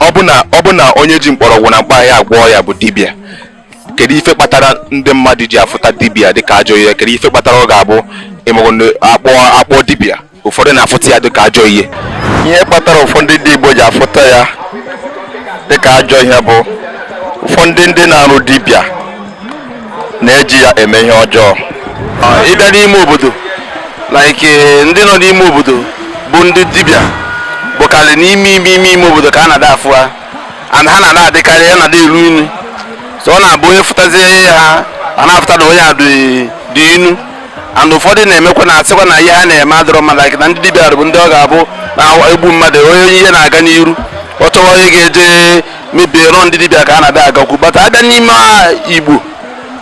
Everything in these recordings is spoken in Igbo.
ọ bụ na onye ji mkpọrọgwụ na mkpa ahịhịa agwọ ọya bụ dibịa kedu ife kpatara ndị mmadụ ji afụta dibịa dịka ajọ ihe kedu ife kpatara ọ ga-abụ akpọ akpọọ dibịa ụfọdụ na-afụta ya dịka ajọ ihe ihe kpatara ụfọdụ ndị Igbo ji afụta ya dịka ajọ ihe bụ ụfọdụ ndị na-arụ dibịa na-eji ya eme ihe ọjọọ ị bịa n'ime obodo like eh, ndị nọ n'ime obodo bụ ndị dibịa bụkarị n'ime ime ime ime obodo ka a na-ada afụ ha and ha na-ada adịkarị ya na-ada elu inyi so ọ na-abụ onye fụtazie ha a na-afụta na onye a dị inyi and ụfọdụ na-emekwa na asịkwa na ihe ha na-eme adịrọ mma like na ndị dibịa bụ ndị ọ ga-abụ na-egbu mmadụ onye ihe na-aga n'iru ọ chọwa onye ga-eje mebiere ọ ndị dibịa ka a na-ada agakwu but a bịa n'ime igbo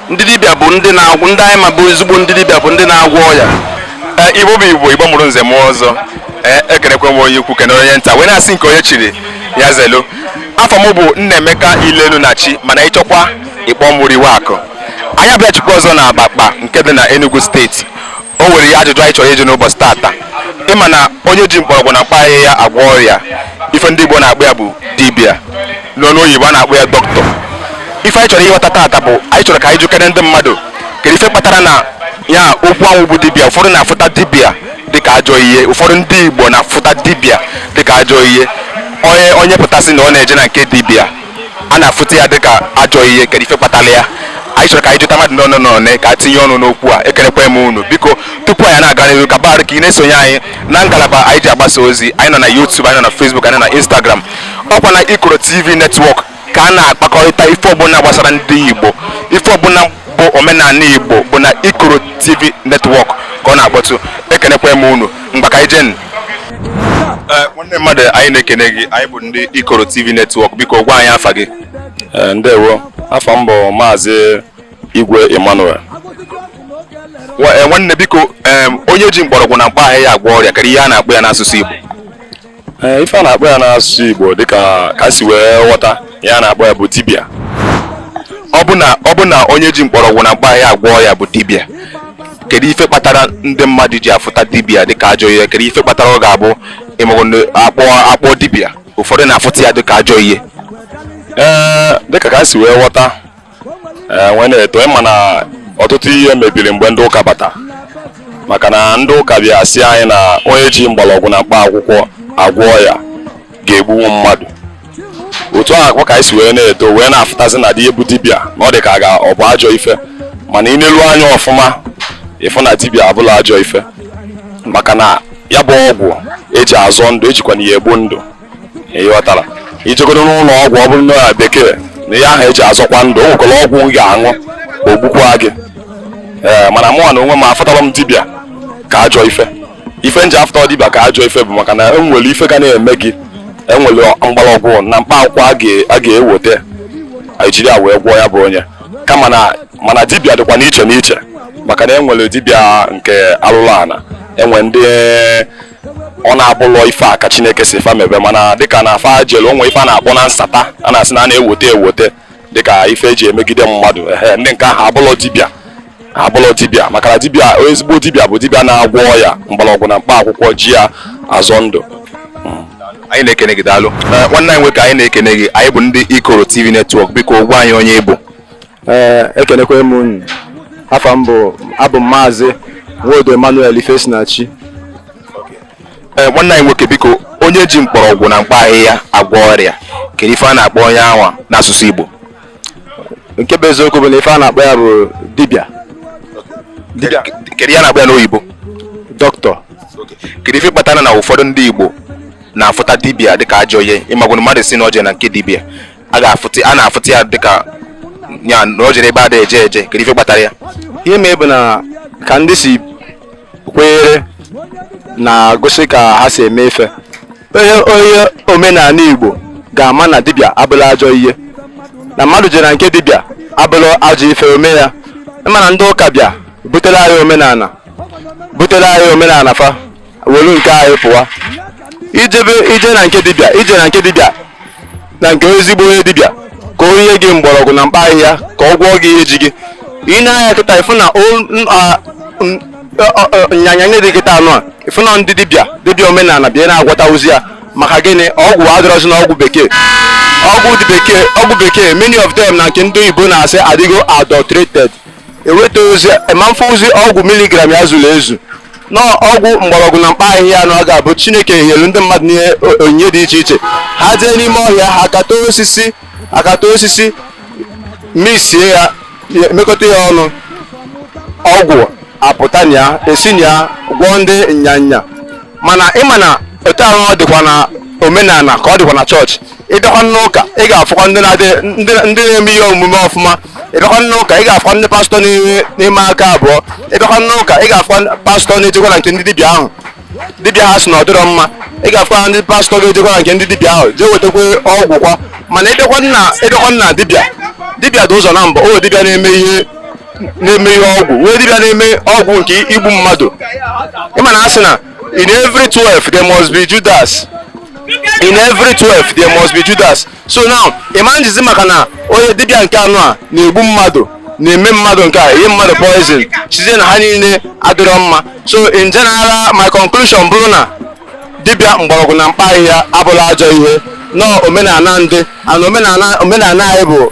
ndị dibịa bụ ndị na-agwọ ndị anyị ma bụ ezigbo ndị dibịa bụ ndị na-agwọ ọya e, igbo bụ igbo igbo mụrụ nze mụọ ọzọ ekenekwe m onye ukwu kene onye nta wee na-asị nke onye chiri ya zelu afa m bụ Nnaemeka Ilelu na chi mana ịchọkwa ịkpọ mụrụ iwe akụ anyị abịachikwa ọzọ na Abakpa nke dị na Enugu steeti o nwere ihe ajụjụ anyị chọrọ ịjụ n'ụbọchị tata ịma na onye ji mkpọrọgwụ na mkpa ahịhịa agwọ ọrịa ife ndị Igbo na-akpọ ya bụ dibịa n'ọnụ oyibo a na-akpọ ya dọkịta ife anyị chọrọ ịghọta tata bụ anyị chọrọ ka anyị jụkere ndị mmadụ kedu ife kpatara na ya okwu anwa bụ dibịa ụfọdụ na-afụta dibịa dịka ajọ ihe ụfọdụ ndị Igbo na-afụta dibịa dịka ajọ ihe onye onye pụta sị na ọ na-eje na nke dibịa a na-afụta ya dịka ajọ ihe kedu ife kpatara ya anyị chọrọ ka anyị jụta mmadụ n'ọnụ n'ọnụ ka a tinye ọnụ n'okwu a ekelekwa m unu biko tupu anyị na-aga n'ihu ka barụ ka ị na-esonye anyị na ngalaba anyị ji agbasa ozi anyị nọ na YouTube anyị nọ na Facebook anyị nọ na Instagram ọ kwa na Ikoro TV netwọk ka a na-akpakọrịta ife ọbụla gbasara ndị Igbo ife ọbụla bụ omenala Igbo bụ na Ikoro TV netwọk ka ọ na-akpọtụ ekelekwa m unu ngwa ka anyị jee nwanne mmadụ anyị na-ekene gị anyị bụ ndị ikoro tv netwọk biko gwa anyị afa gị eh, ndewo afa m bụ maazị igwe emmanuel eh, nwanne biko onye ji mkpọrọgwụ na mkpa ahịhịa agwọ ọrịa kedu ihe a na-akpọ ya n'asụsụ igbo ee ife a na-akpọ ya n'asụsụ Igbo dịka ka si wee ghọta ya a na-akpọ ya bụ dibịa ọ bụ na ọ bụ na onye ji mkpọrọgwụ na mkpa ahịhịa agwọ ọya bụ dibịa kedu ife kpatara ndị mmadụ ji afụta dibịa dịka ajọ ihe kedu ife kpatara ọ ga-abụ ịmụrụ na akpọ akpọọ dibịa ụfọdụ na-afụta ya dịka ajọ ihe ee dịka ka si wee ghọta ee wee na-eto ị ma na ọtụtụ ihe mebiri mgbe ndị ụka bata maka na ndị ụka bịa sị anyị na onye ji mgbọrọgwụ na mkpa akwụkwọ agwọ ọya ga-egbunwu mmadụ otu ahụkwa ka anyị si wee na-eto wee na-afụtazi na ndị bụ dibịa na ọ dị ka ga ọ bụ ajọ ife mana ị nelu anya ọfụma ị fụ na dibịa abụrọ ajọ ife maka na ya bụ ọgwụ eji azọ ndụ ejikwanụ ya egbu ndụ ịghọtara ijegodo n'ụlọ ọgwụ ọ bụrụ na ya bekee na ihe ahụ eji azọkwa ndụ o nwekwara ọgwụ ị ga-aṅụ o gbukwaa gị ee mana mụnwa na onwe m afụtalọ m dibịa ka ajọ ife ife m ji afụtalọ dibịa ka ajọ ife bụ maka na enwere ife ga na-eme gị enwere mgbọrọgwụ na mkpa akwụkwọ a ga-ewote ejiri ya wee gwọọ ya bụ onye kama na mana dibịa dịkwa n'iche n'iche maka na enwere dibịa nke alụlụ ana enwe ndị ọ na-abụlọ ife a ka chineke sị fa mebe mana dịka na afa jelu o nwe ife a na-akpọ na nsata a na-asị na a na-ewote ewote dịka ife eji emegide mmadụ ehe ndị nke ahụ abụlọ dibịa abụlọ dibịa maka na dibịa ezigbo dibịa bụ dibịa na-agwọ ọya mgbọrọgwụ na mkpa akwụkwọ ji ya azọ ndụ anyị na-ekene gị daalụ nwanne anyị nwoke anyị na-ekene gị anyị bụ ndị ikoro tv netwọk biko gwa anyị onye ị bụ ee eh, ekenekwaa m unu afa m bụ abụ m maazị nwodo emmanuel ifesinachi eh, nwanne anyị nwoke biko onye ji mkpọrọgwụ na mkpa ahịhịa agwọ ọrịa kedu ife a na-akpọ onye anwa n'asụsụ igbo nke bụ eziokwu bụ na ife a na-akpọ ya bụ dibịa kedu ihe a na-akpọ ya n'oyibo dọkịta kedu ife kpatara na ụfọdụ ndị igbo na-afụta dibịa dịka ajọ ihe ị magonụ mmadụ sị na o jee na nke dibịa a ga-afụta a na-afụta ya dịka ya na o jere ebe a da eje eje kedu ife kpatara ya ihe mee bụ na ka ndị si kwenyere na-egosi ka ha si eme ife onye onye omenala igbo ga-ama na dibịa abụlọ ajọ ihe na mmadụ jere na nke dibịa abụlọ ajọ ife ome ya ịma na ndị ụka bịa butere anyị omenala butere anyị omenala fa were nke anyị pụwa ijebe ije na nke dibịa ije na nke dibịa na nke ezigbo onye dibịa ka o nye gị mgbọrọgwụ na mkpa ahịhịa ka ọ gwọọ gị ihe ji gị ị na-anya kịta ịfụ na o- n- a- n- ọ- ọ- ọ- nyanya nye dị kịta anụ a ịfụ na ndị dibịa dibịa omenala bịa na-agwọtazi ya maka gịnị ọgwụ adịrọzi na ọgwụ bekee ọgwụ dị bekee ọgwụ bekee many of them na nke ndị oyibo na-asị adịgo adulterated eweta ozi ma mfe ozi ọgwụ miligram ya zuru ezu n'ọgwụ mgbọrọgwụ na mkpa ahịhịa anụwa ga-abụ chineke nyere ndị mmadụ n'ihe o- onyinye dị iche iche ha jee n'ime ọhịa ha akata osisi akata osisi mixie ya ya- mekọta ya ọnụ ọgwụ apụta na ya e si na ya gwọọ ndị nyanya mana ịma na otu ahụ ọ dịkwa na omenala ka ọ dịkwa na chọọchị ịbịakwa n'ụka ị ga-afụkwa ndị na-eme ihe omume ọfụma ịbịakwa n'ụka ị ga-afụkwa ndị pastọ na-eme aka abụọ ịbịakwa n'ụka ị ga-afụkwa pastọ na-ejekwa na nke ndị dibịa ahụ dibịa ha sị na ọ dịrọ mma ị ga-afụkwa ndị pastọ ga-ejekwa na nke ndị dibịa ahụ jee wetakwa ọgwụ kwa mana ịbịakwa na dibịa dibịa dị ụzọ abụọ dibịa na-eme ihe na-eme ihe ọgwụ nwee dibịa na-eme ọgwụ nke igbu mmadụ ịma na a sị na in every 12 there must be judas in every 12 there must be judas so now ịma njizi maka na onye dibịa nke anụwa na-egbu mmadụ na-eme mmadụ nke a nye mmadụ poison sịzie na ha niile adịrọ mma so in general my conclusion bụrụ na dibịa mgbọrọgwụ na mkpa ahịhịa abụla ajọ ihe n'omenala ndị and omenala omenala anyị bụ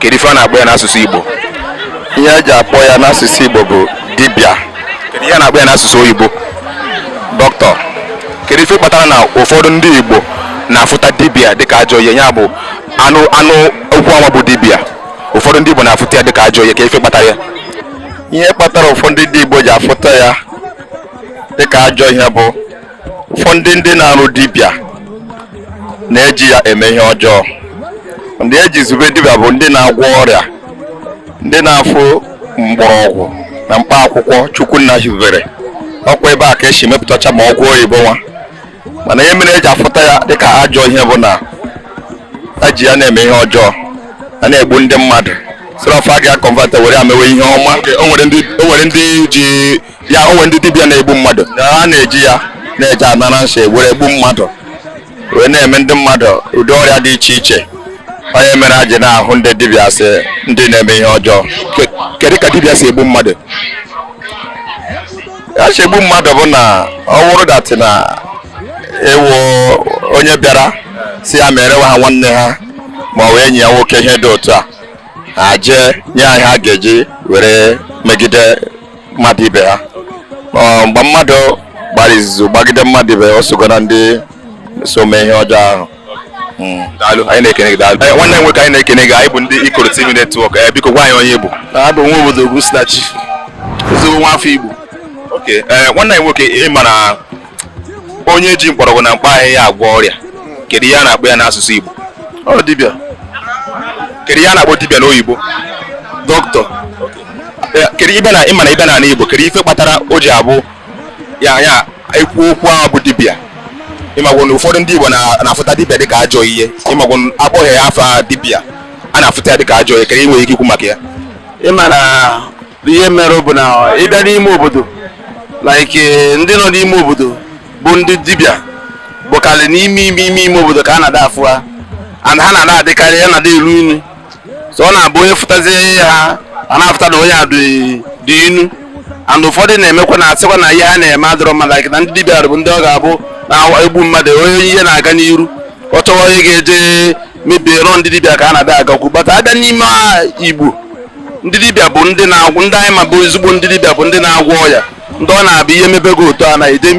kedu ife a na-akpọ ya n'asụsụ Igbo ihe eji akpọ ya n'asụsụ Igbo bụ dibịa kedu ihe a na-akpọ ya n'asụsụ oyibo dọkịta kedu ife kpatara na ụfọdụ ndị Igbo na-afụta dibịa dịka ajọ ihe ya bụ a nụ a nụ okwu anwa bụ dibịa ụfọdụ ndị Igbo na-afụta ya dịka ajọ ihe kee ife kpatara ya ihe kpatara ụfọdụ ndị Igbo ji afụta ya dịka ajọ ihe bụ ụfọdụ ndị ndị na-arụ dibịa na-eji ya eme ihe ọjọọ ndị eji zube dibịa bụ ndị na-agwọ ọrịa ndị na-afụ mgbọrọgwụ na mkpa akwụkwọ chukwu nna hibere ọ kwa ebe a ka esi mepụtacha ma ọgwụ oyibo nwa mana ihe mere eji afụta ya dịka ajọ ihe bụ na eji ya na-eme ihe ọjọọ a na-egbu ndị mmadụ instead of gị aconvert ya were ya mewe ihe ọma o nwere ndị ji ya o nwee ndị dibịa na-egbu mmadụ a na-eji ya na-eje anara nsi were egbu mmadụ wee na-eme ndị mmadụ ụdị ọrịa dị iche iche ọ ya mere eji na-ahụ ndị dibịa sị ndị na-eme ihe ọjọọ kedu ka dibịa si egbu mmadụ ya si egbu mmadụ bụ na ọ wụrụ that na ị wụ onye bịara sị ya meere ha nwanne ha ma ọ wụ enyi ya nwoke ihe dị otu a ha jee nye ya ihe ha ga-eji were megide mmadụ ibe ha mgbe mmadụ gbara izuzu gbagide mmadụ ibe ya o sogo na ndị so mee ihe ọjọọ ahụ hmm. daalụ anyị na-ekene gị daalụ eh, nwanne nwoke anyị na-ekene gị anyị bụ ndị Ikoro TV Network eh, biko gwa anyị onye ị bụ abụ m Nwobodo Ogwusinachi ezigbo nwa afọ Igbo okay eh, nwanne anyị nwoke ị mara onye ji mkpọrọgwụ na mkpa ahịhịa agwọ ọrịa kedu ihe a na-akpọ ya n'asụsụ Igbo ọ dibịa kedu ihe a na-akpọ dibịa n'oyibo dọkịta Eh, kedu ife na ị ma na ị bịa n'ala Igbo kedu ife kpatara o ji abụ ya e kwuo okwu ahụ bụ dibịa ị mago na ụfọdụ ndị Igbo na- na-afụta dibịa dịka ajọ ihe ị mago na a kpọọ ya afa dibịa a na-afụta ya dịka ajọ ihe kedu ihe i nwere ike ikwu maka ya ị ma na ihe mere bụ na ị bịa n'ime obodo like eh, ndị nọ n'ime obodo bụ ndị dibịa bụkarị n'ime ime ime ime obodo ka a na-ada afụ ha and ha na-ada adịkarị ya na-ada elu inyi so ọ na-abụ onye fụtazie ha a na-afụta na onye a dị dị inyi and ụfọdụ na-emekwa na-asịkwa na ihe ha na-eme adịrọ mma like na ndị dibịa bụ ndị ọ ga-abụ na-egbu mmadụ onye ihe na-aga n'iru a chọwa onye ga-eje mebie ya ọ ndị dibịa ka a na-ada agakwu but a bịa n'ime igbo ndị dibịa bụ ndị na-agwọ ndị anyị ma bụ ezigbo ndị dibịa bụ ndị na-agwọ ọya ndị ọ na-abụ ihe mebe gị otu a na ide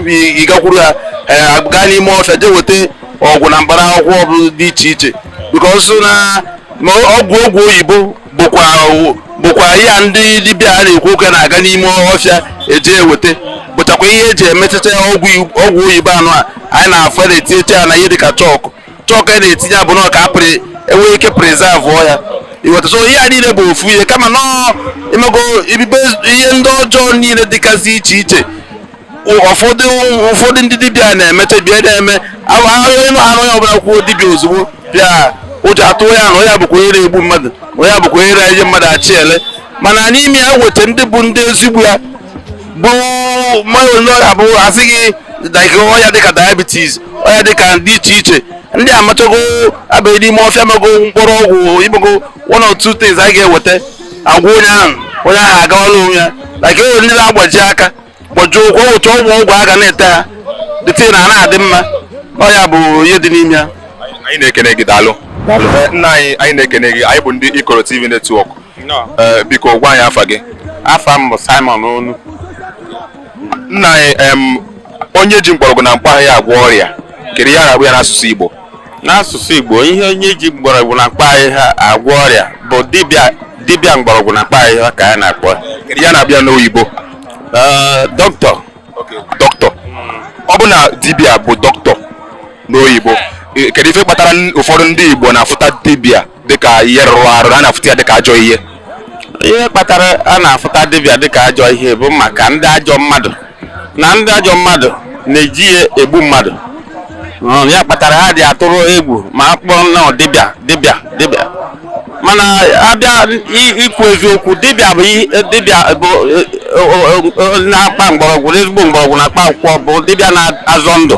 ịgakwuru ha eh, gaa n'ime ọfịa jee weta ọgwụ na mkpara akwụkwọ ọbụla dị iche iche because na ọgwụ ọgwụ oyibo bụkwa bụkwa ya ndị dibịa a na-ekwu okwu na-aga n'ime ọfịa eje eweta bụchakwa ihe eji emechacha ọgwụ oyibo anụ a anyị na-afụ na-etinyecha ya na ihe dịka chalk chalk a na-etinye abụ na ọka pụrụ enwe ike preserve ya iweta so ihe a niile bụ ofu ihe kama nọọ imego ibibe ihe ndị ọjọọ niile dịgasị iche iche ụfọdụ ụfọdụ ndị dibịa na-emecha bịa na-eme onye na-anụ onye ọbụla kwuo dibịa ozugbo bịa ụjọ atụ onye ahụ onye bụkwa onye na-egbu mmadụ onye bụkwa onye na-enye mmadụ achị ele mana n'ime ya weta ndị bụ ndị ezigbo ya bụ mmadụ ndị ọrịa bụ asị gị dịka ọrịa dịka diabetes ọrịa dịka dị iche iche ndị amachago abaghị n'ime ọfịa mago mkpụrụ ọgwụ emego one or two things anyị ga-eweta agwọ onye ahụ onye ahụ agawala onwe ya like enwere ndị na-agbaji aka gbajie ụkwụ o weta ọgwụ ọgwụ a ga na-ete ha dịtị na a na-adị mma ọ ya bụ ihe dị n'ime ya anyị na-ekene gị daalụ Ee, nna anyị anyị na-ekene gị anyị bụ ndị ikoro tv network Eh, biko gwa anyị afa gị afa m bụ simon onu nna anyị em, onye ji mgbọrọgwụ na mkpa ahịhịa agwọ ọrịa kedu ihe a na-akpọ ya n'asụsụ igbo n'asụsụ igbo ihe onye ji mgbọrọgwụ na mkpa ahịhịa agwọ ọrịa bụ dibịa dibịa mgbọrọgwụ na mkpa ahịhịa ka a na-akpọ ya. kedu ihe a na-akpọ ya n'oyibo Eh, doctor doctor ọ bụ na dibịa bụ doctor n'oyibo eh, kedu ife kpatara n- ụfọdụ ndị igbo na-afụta dibịa dịka ihe rụrụ arụ a na-afụta ya dịka ajọ ihe ihe kpatara a na-afụta dibịa dịka ajọ ihe bụ maka ndị ajọ mmadụ na ndị ajọ mmadụ na-eji ya egbu mmadụ Mm, ya kpatara ha dị atụrụ egwu ma a kpọọ nnọọ dibịa dibịa dibịa mana abịa i- ikwu eziokwu dibịa bụ i- dibịa bụ e, o- o- o- na-akpa mgbọrọgwụ ezigbo mgbọrọgwụ na mkpa akwụkwọ bụ dibịa na-azọ ndụ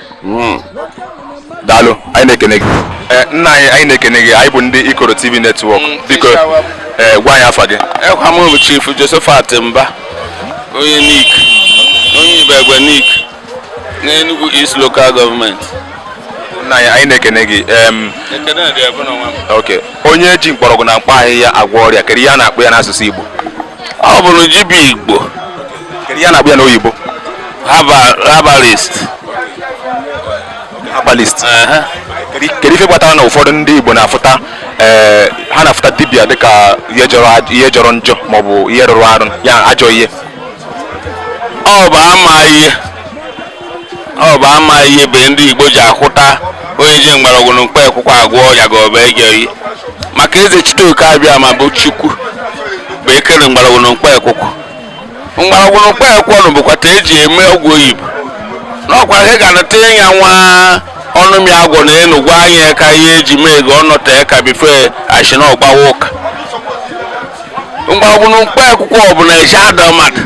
Hmm. daalụ anyị na-ekene gị eh, nna anyị anyị na-ekene gị anyị bụ ndị ikoro tv network hmm, biko eh, gwa anyị afa gị ekwa eh, m bụ chief josephat mba onye nike onye ibagwa nike n'enugwu east local government nna anyị anyị na-ekene gị onye ji mkpọrọgwụ na mkpa ahịhịa agwọ ọrịa kedu ihe a na-akpọ ya n'asụsụ igbo ọ bụrụ dibịa igbo kedu ihe a na-akpọ ya n'oyibo herbal- herbalist herbalist Ehe. kedu kedu ife kpatara na ụfọdụ ndị igbo na-afụta ee, ha na-afụta dibịa dịka ihe jọrọ aj- ihe jọrọ njọ maọbụ ihe rụrụ arụ ya ajọ ihe ọ bụ ama ihe ọ bụ ama ihe bụ ndị igbo ji ahụta onye ji mgbọrọgwụ na mkpa akwụkwọ agwọ ya ga ọba ege oyi maka eze chiteoke abịama bụ chukwu bụ ekere mgbọrọgwụ na mkpa akwụkwọ mgbọrọgwụ na mkpa akwụkwọ nụ bụkwa ta eji eme ọgwụ oyibo n'ọkwa ha ga anata ya nwa ọnụ m ya agwọ na enu gwa anyị ya ka ihe eji mee ego ọnọta ya ka bife ashi na ọgbawa ụka mgbọrọgwụ na mkpa akwụkwọ ọbụla eji ada mmadụ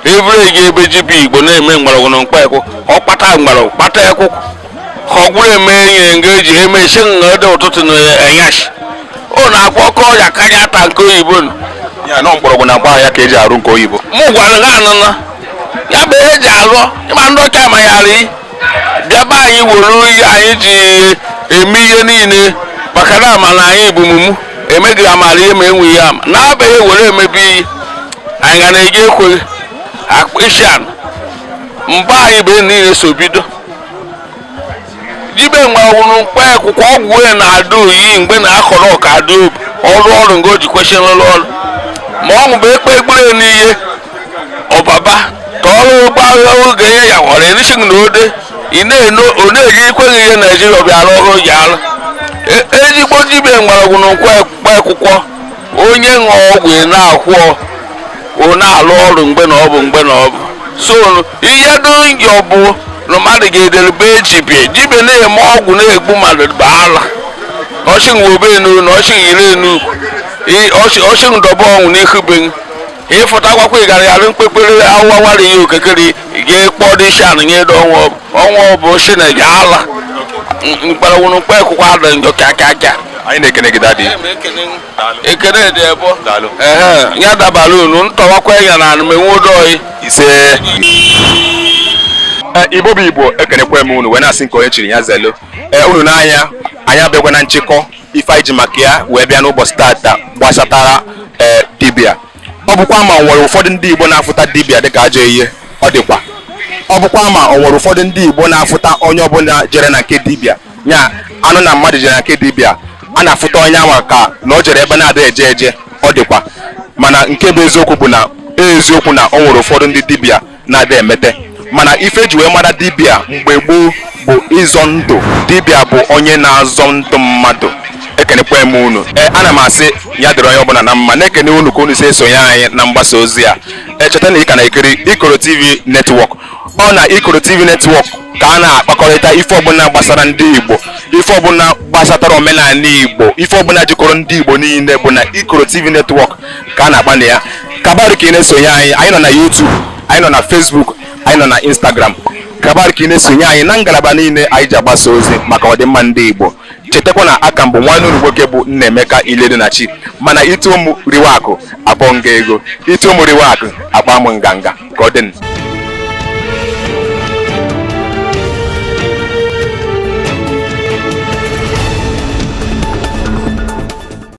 evere gị ebe dibịa igbo na-eme mgbọrọgwụ na mkpa akwụkwọ ọ kpata mgbọrọgwụ kpata akwụkwọ ọ gwụrụ eme enyi nga eji eme isi nga ede ụtụtụ na enyashi ọ na-akpọ ọkọ ọrịa karịa ata nke oyibo nụ ya nọ mgbọrọgwụ na mkpa ahịhịa ka eji arụ nke oyibo mụ gwara ha anụna ya bụ ihe eji aghọ ịma ndị ọcha ma ya ri bịaba anyị were ihe anyị ji eme ihe niile maka na ama na anyị bụ mumu emeghị amara ihe ma enweghị ya ama n'abaghị were emebi iyi anyị ga na-eji ekweghị akpa isi anụ mgbe anyị bụ niile so bido dibịa mgbọrọgwụ mkpa akwụkwọ ọgwụ ya na-ada oyi mgbe na-akọrọ ọka ada obu ọrụ ọrụ nga o ji kwesịrị n'ụlọ ọrụ ma ọ bụ ekpe ekpere n'ihe ọbaba ka ọrụ ụgbọ agha oge ya ya nwere erisighị na ode ị na-eno ọ na-eji ikweghị ihe naijiria bịa arụ ọrụ ji arụ E- ezigbo dibịa mgbọrọgwụ na mkpa akwụkwọ onye ṅụọ ọgwụ ị na-akwụọ ọ na-alụ ọrụ mgbe na ọ bụ mgbe na ọ bụ so ihe dụ njọ bụ na mmadụ ga-edelebe ejibie dibịa na-eme ọgwụ na-egbu mmadụ bụ ala ọchịghị obe enu na ọchịghị ire enu ọchịghị dọba ọnwụ n'ihu be ịfụta akwakwa ịgara yara mkpekpere awụwawara ihe okekere gị kpọrọ isi anụ nye edo ọnwa ọbụ ọnwa ọbụ si na gị ala mgbọrọgwụ mkpa akwụkwọ ada njọ ka aka aka anyị na-ekene gị dadi ekene dị ebo Daalụ. ehe ya dabara unu ntọwakwa ya na anụmenwe udo ise Ee, igbo bụ igbo ekenekwa m unu wee na-asị nke onye chiri ya zelu ee unu n'anya anyị abịakwa na nchịkọ ife anyị ji maka ya wee bịa n'ụbọsị tata gbasatara ee dibịa ọ bụkwa a ma o nwere ụfọdụ ndị igbo na-afụta dibịa dịka ajọ ihe ọ dịkwa ọ bụkwa a ma o nwere ụfọdụ ndị igbo na-afụta onye ọbụla jere na nke dibịa ya a nụ na mmadụ jere na nke dibịa a na-afụta onye ahụ ka na o jere ebe na-ada eje eje ọ dịkwa mana nke bụ eziokwu bụ na eziokwu na o nwere ụfọdụ ndị dibịa na-adị emete mana ife e ji wee mara dibịa mgbe gboo bụ ịzọ ndụ dibịa bụ onye na-azọ ndụ mmadụ ekenekwa m unu ee ana m asị ya dịrị onye ọbụla na mma na-ekene unu ka unu si esonye anyị na mgbasa ozi a cheta na ị ka na-ekiri ikoro tv netwọk ọ na ikoro tv netwọk ka a na-akpakọrịta ife ọbụla gbasara ndị igbo ife ọbụla gbasatara omenala igbo ife ọbụla jikọrọ ndị igbo niile bụ na ikoro tv netwọk ka a na-agba na ya kabar ka ị na-esonye anyị anyị nọ na YouTube anyị nọ na Facebook anyị nọ na Instagram kabar ka ị na-esonye anyị na ngalaba niile anyị ji agbasa ozi maka ọdịmma ndị Igbo chetakwa na aka m bụ nwanne unu nwoke bụ Nnaemeka Iledunachi mana ịtụ ụmụ riwe akụ abọ nga ego ịtụ ụmụ riwe akụ akpaa m nganga ka ọ dị